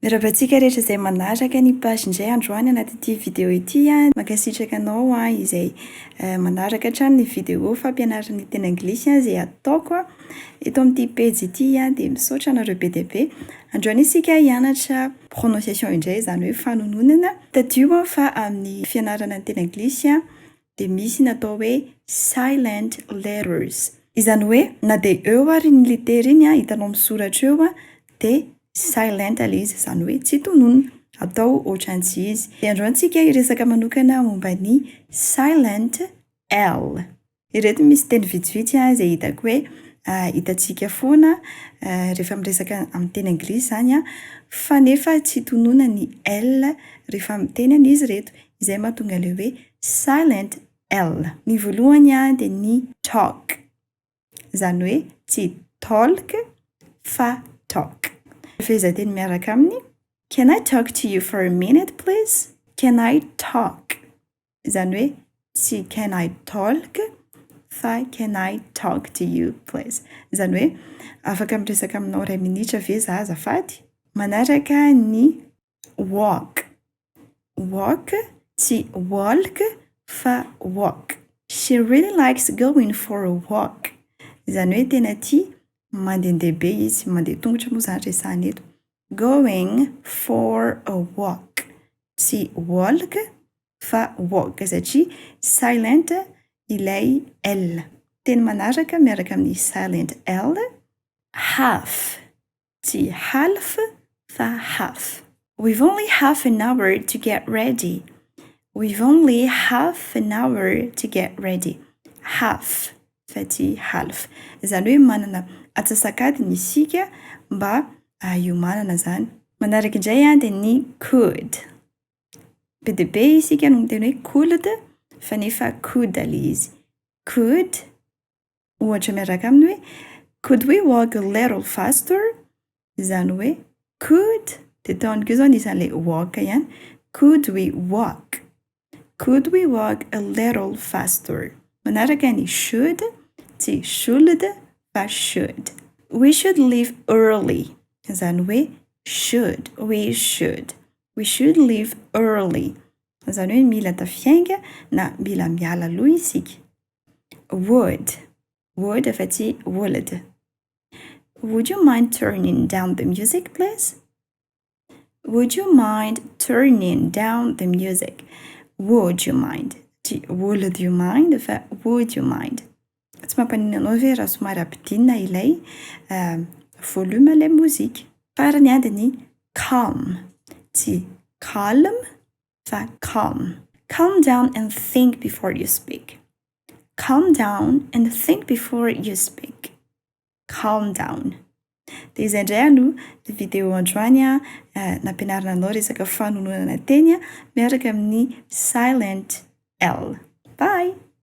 Miarahaba antsika rehetra izay manaraka ny page indray androany anaty ity video ity. Mankasitraka anao izay manaraka hatrany ny video fampianarana ny teny anglisy izay ataoko eto amin'ity pejy ity dia misaotra anareo be dia be. Androany isika hianatra prononciation indray izany hoe fanononana. Tadidio fa amin'ny fianarana ny teny anglisy dia misy ny atao hoe silent letters. Izany hoe na dia eo ary iny litera iny hitanao misoratra eo dia silent ilay izy, izany hoe tsy tononina, atao ohatran'ny tsy izy. Dia andreo antsika hiresaka manokana momba ny silent L. Ireto misy teny vitsivitsy izay hitako hoe hitantsika foana rehefa miresaka amin'ny teny anglisy izany fa nefa tsy tononina ny L rehefa miteny an'izy ireto. Izay mahatonga ilay hoe silent L. Ny voalohany dia ny talk. Izany hoe tsy talk fa talk. Ny fehezanteny miaraka aminy, Can I talk to you for a minute please? Can I talk? Izany hoe tsy can I talk fa can I talk to you please? Izany hoe afaka miresaka aminao iray minitra ve izaho azafady? Manaraka ny walk, walk tsy walk fa walk. She really likes going for a walk, izany hoe tena tia mandehandeha be izy, mandeha an-tongotra moa izany resahina eto. Going for a walk, tsy walk fa walk satria silent ilay L. Teny manaraka miaraka amin'ny silent L, half, Tsy half fa half. We've only half an hour to get ready. We've only half an hour to get ready. Half fa tsy half. Izany hoe manana atsasak'adiny isika mba hiomanana izany. Manaraka indray dia ny could. Be dia be isika no miteny hoe could fa nefa could ilay izy. Could ohatra miaraka aminy hoe Could we walk a little faster? Izany hoe could dia tao amiko izao ny isan'ilay walk ihany. Could we walk? Could we walk a little faster? Manaraka ny should, tsy should fa should. We should leave early. Izany hoe should, we should. We should leave early. Izany hoe mila tafihainga na mila miala aloha isika. Word, word fa tsy would. Would you mind turning down the music please? Would you mind turning down the music? Would you mind? Tsy would you mind fa would you mind. Tsy mampaninona anao ve raha somary ampidinina ilay uh, volume ilay mozika? Farany ady ny calm, tsy calm fa calm. Calm down and think before you speak. Calm down and think before you speak. Calm down. Dia izay indray aloha ny video androany a, eh, nampianarina anao resaka fanononana teny miaraka amin'ny silent L. Bye!